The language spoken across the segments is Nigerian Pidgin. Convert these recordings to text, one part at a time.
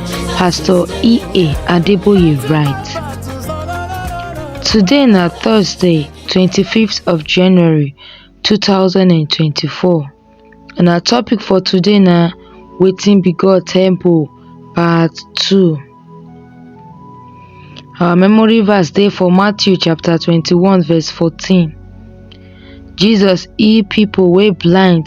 Pastor E.A. Adeboye write, Today na Thursday, 25th of January 2024 and our topic for today na Wetin be God Temple Part 2. Our memory verse dey for Matthew chapter 21 verse 14. Jesus heal people wey blind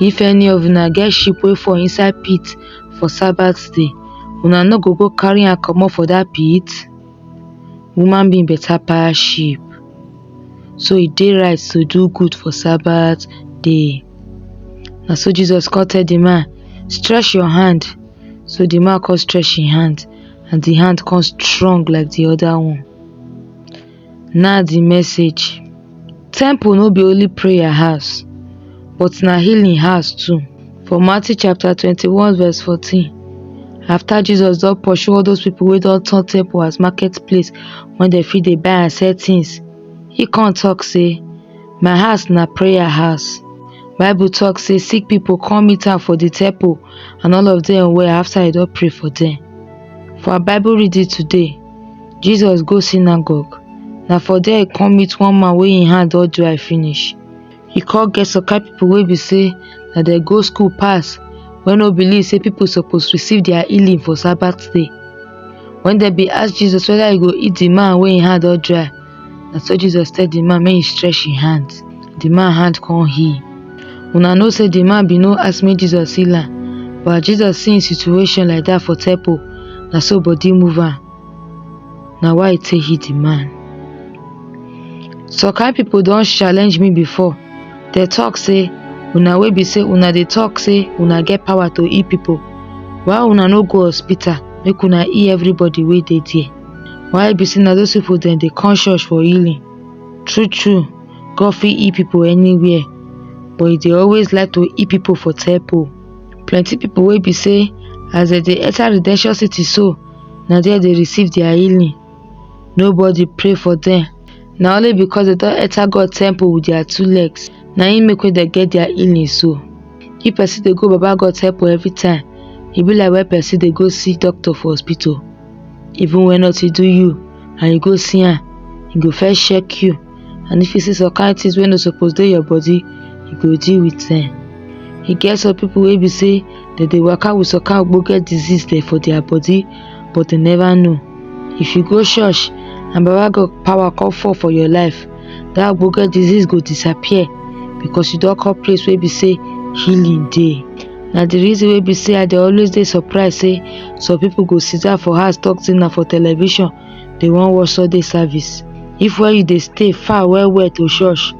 If any of una get sheep wey fall inside pit for Sabbath day, una no go go carry am comot for that pit? Human being better pass sheep. So e dey right to do good for Sabbath day. Na so Jesus come tell the man, stretch your hand. So the man come stretch him hand and the hand come strong like the other one. Na di message. Temple no be only prayer house but na healing house too. For Matthew chapter twenty one verse fourteen after Jesus don pursue all those people wey don turn temple as market place wey dem fit dey buy and sell things, he come talk say my house na prayer house. Bible talk say sick people come meet am for the temple and all of them well after he don pray for them. For our Bible reading today, Jesus go synagogue. Na for there e come meet one man wey im hand don dry finish. E come get some kind people wey be say na dem go school pass, wey no believe say people suppose receive their healing for Sabbath day. When dem be ask Jesus whether he go heal the man wey im hand don dry, Na so Jesus tell di man make he stretch him hand. Di man hand come heal. Una know say di man bin no ask make Jesus heal am, but as Jesus see him situation like dat for temple, na so body move am. Na why he take heal di man. Some kind pipo don challenge me before, dem talk say una wey be say una dey talk say una get power to heal pipo, why una no go hospital make una heal everybody wey dey there? Why e be sey na those people dem dey come church for healing? True true God fit heal people anywhere but e dey always like to heal people for temple. Plenty people wey be sey as dem dey enter redemption city so na there dey receive their healing. Nobody pray for dem na only because dem don enter God temple with their two legs na im make dem get their healing so. If person dey go baba God temple every time e be like when person dey go see doctor for hospital. even when nothing do you and you go see am e go first check you and if you see some kind things wey no suppose dey your body you go deal with them e get some people wey be say dem dey waka with some kind ogbonge disease dem for their body but dem never know if you go church and baba god power come fall for your life that ogbonge disease go disappear because you don come place wey be say healing dey na the reason wey be say i dey always dey surprised say some people go sit down for house talk say na for television they wan watch sunday service if where you dey stay far well well to church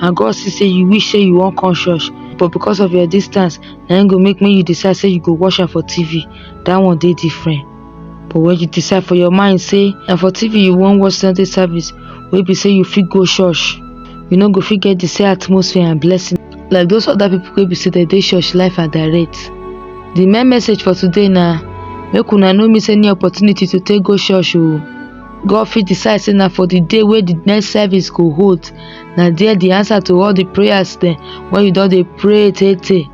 and god see say you wish say you wan come church but because of your distance na im go make make you decide say you go watch am for tv that one dey different but when you decide for your mind say na for tv you wan watch sunday service wey be say you fit go church you no go fit get the same atmosphere and blessing like those other people wey be say dem dey church life and direct the main message for today na make una no miss any opportunity to take go church o god fit decide say na for the day wey the next service go hold na there the answer to all the prayers dem wey you don dey pray tey tey